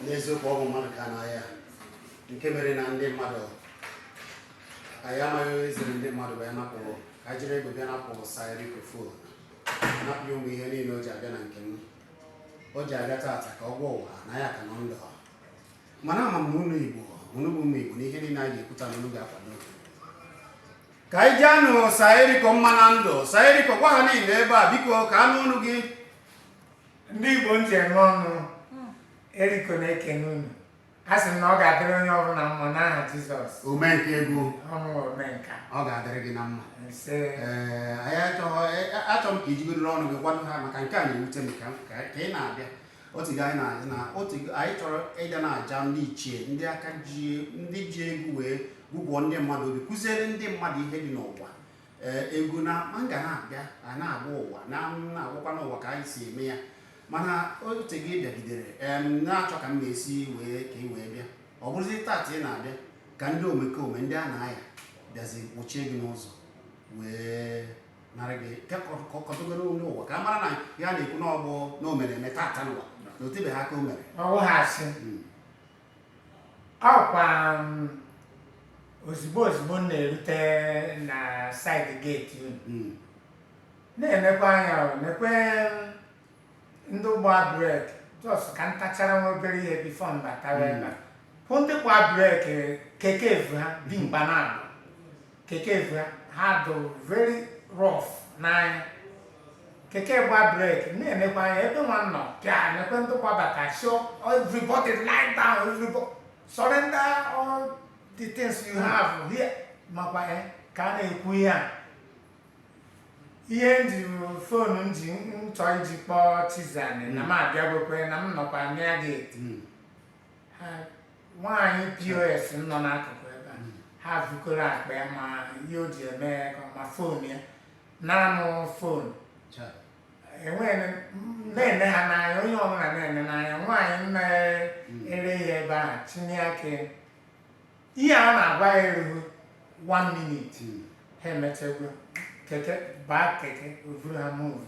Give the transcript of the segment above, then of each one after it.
n'eziokwu ọ bụ mmadụ ka a na-aya nke mere na ndị mmadụ anyị amaghị onye ziri ndị mmadụ bịa napụ ka anyị jiri egbe bịa napụ Sa Eriko fon napụ ụmụ ihe niile o ji abịa na nke m o ji abịa taata ka ọ gwa ụwa na ya ka nọ ndụ mana ama m na unu Igbo unu bụ ụmụ Igbo na ihe niile anyị ga-ekwu taa na unu ga-akwado ka anyị jaanụ Sa Eriko mma na ndụ Sa Eriko gwa ha niile ebe a biko ka a nụ ọnụ gị ndị Igbo m ji eme ọnụ Eriko na-ekene unu a sị m na ọ ga-adịrị onye ọbụla mma n'aha Jizọs omenka egwu ọnwụ omenka ọ ga-adịrị gị na mma ise Ee, anyị achọghọ e- a- achọ m ka i jigodoro ọnụ gị gwado ha maka nke a na-ewute m ka ka ka ị na-abịa o tego anyị na na o tego anyị chọrọ ịga na-aja ndị ichie ndị aka ji ndị ji egwu wee gụgụọ ndị mmadụ obi kụziere ndị mmadụ ihe dị n'ụwa ee egwu na ma ga na-abịa a na-agwa ụwa na na-agwakwanụ ụwa ka anyị si eme ya mana oche gị bịagidere em na-achọ ka m na-esi wee ka ị wee bịa ọ bụrụzi taata ị na-abịa ka ndị omekome ndị a na-aya bịazi kpọchie gị n'ụzọ wee nara gị kọtụgoro nụ ụwa ka a mara na ihe a na-ekwu na ọ bụ na o mere eme taata nụwa na o tebeghị aka o mere ọ wụghị asị ọkwa m, ozugbo ozugbo m na-erute na saịdị geeti unu Mm. na-enekwa anya nekwe ndị gba brek jọs ka m tachara nwa obere ihe bifo m batawa ebe a. hụ ndị gba brek keke vu ha dị mgba na-abụ keke vu ha dị very rough n'anya keke gba brek na-enekwa anya ebe nwa nọ pịa nekwe ndị gbabata sị o everybody lie down everybody surrender all the things you have here makwa eh, ka a na-ekwu ihe a ihe m ji fon m ji m chọọ iji kpọọ Chizani na m abịagokwe na m nọkwa na geeti nwaanyị POS nọ n'akụkụ ebe a ha vukọrọ akpa ya ma ihe o ji eme ya ka ọ ma fon ya na-anụ fon Cha. enweghị m- na-ene ha n'anya onye ọbụla na-ene n'anya nwaanyị na-ere ya ebe ahụ tinye aka ya. ihe a na-agwa gị erughị one minute Mm. ha emechagwo keke baa keke o vuru ha move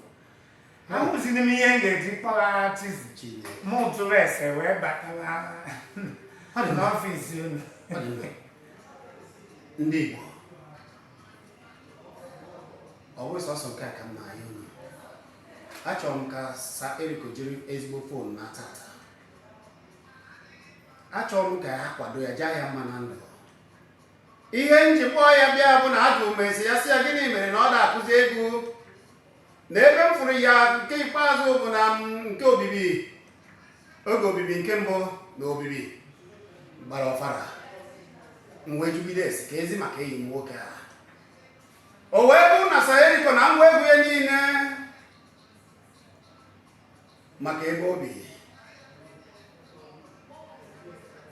ahụzighị m ihe m ga-eji kpọghara Chizi mụ jụrụ ese wee batawa n'ọfịs unu ndị Igbo ọ bụghị sọsọ nke a ka m na-ayọ unu achọrọ m ka Sa Eriko jiri ezigbo fon naa taata achọrọ m ka a kwado ya jaa ya mma na ndụ ihe m ji kpọọ ya bịa bụ na ajụ m ese ya sị ya gịnị mere na ọ na-akụzi egwu na ebe m fụrụ ya nke ikpeazụ bụ na m nke obibi oge obibi nke mbụ na obibi gbara ọfara m wee jụgide ese ka ezi maka enyi m nwoke a o wee bụrụ na Sir Erico na ngwa egwu ya niile maka ebe o bi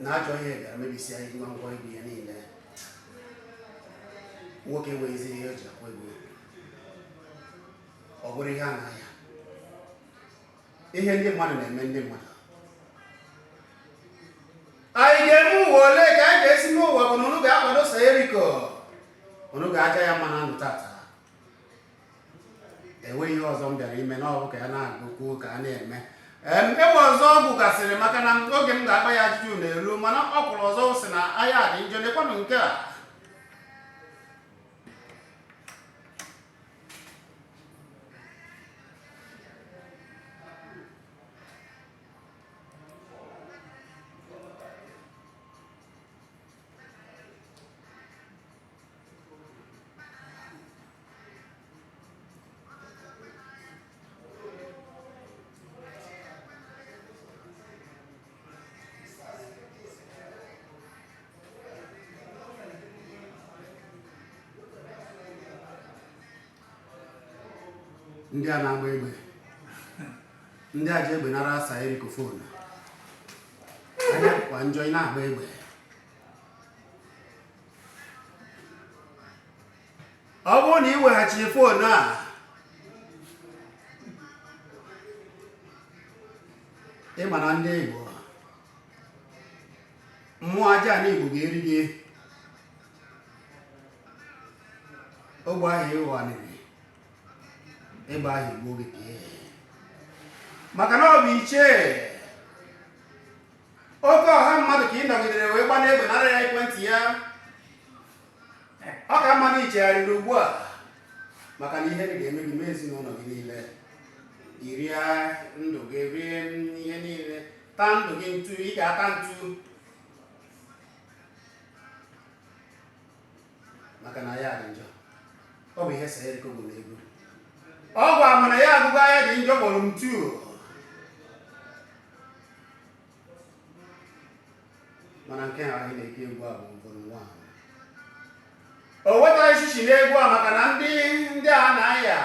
na ajọ ihe bịara mebisia ngwa egwu ya niile nwoke nweghịzi ihe o ji akwa egwu ọ bụrụ ihe a na-aya ihe ndị mmadụ na-eme ndị mmadụ anyị ga-eme ụwa ole ka anyị ga-esi n'ụwa bụ na unu ga-akwado Sir Erico unu ga-aja ya mma na ndụ tata enweghị ihe ọzọ m bịara ime na ọ bụ ka ya na-agụkwu ka a na-eme egwu ọzọ ọ gụgasịrị maka na oge m ga-agba ya ajụjụ na-eru mana ọ kụrụ ọzọ sị na aya dị njọ lekwanụ nke a ndị a na-agba egbe ndị a ji egbe nara Sir Erico fon aya kwa njọ ị na-agba egbe ọ bụrụ na ị weghachirọ fon a ị mara ndị Igbo mmụọ aja na Igbo ga-eri gị egbe ahụ ịghọniri ịgba ahụ egbuo gị maka na ọ bụ ichie Oke ọha mmadụ ka ị nọgidere wee gbana egbe nara ya ekwentị ya. Ọ ka mma na ị chegharịrị ugbu a maka na ihe ga-eme gị mee ezinụlọ gị niile. I rie ndụ gị rie ihe niile taa ndụ gị ntu ị ga-ata ntu maka na aya dị njọ ọ bụ ihe Sir Erico gụrụ n'egwu ọ gwa m na ya agụgo aya dị njọ volume two mana nke a anyị na-eke egwu a bụ volume one o wetaghị shishi n'egwu a maka na ndị ndị a na-aya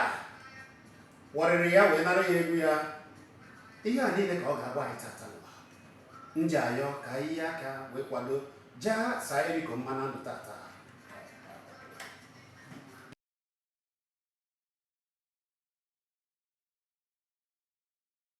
wọrịrị ya wee nara ya egwu ya ihe a niile ka ọ ga-agwa anyị tata n'ụwa m ji ayọ ka anyị yi aka wee kwado jaa sir erico mma na ndụ tata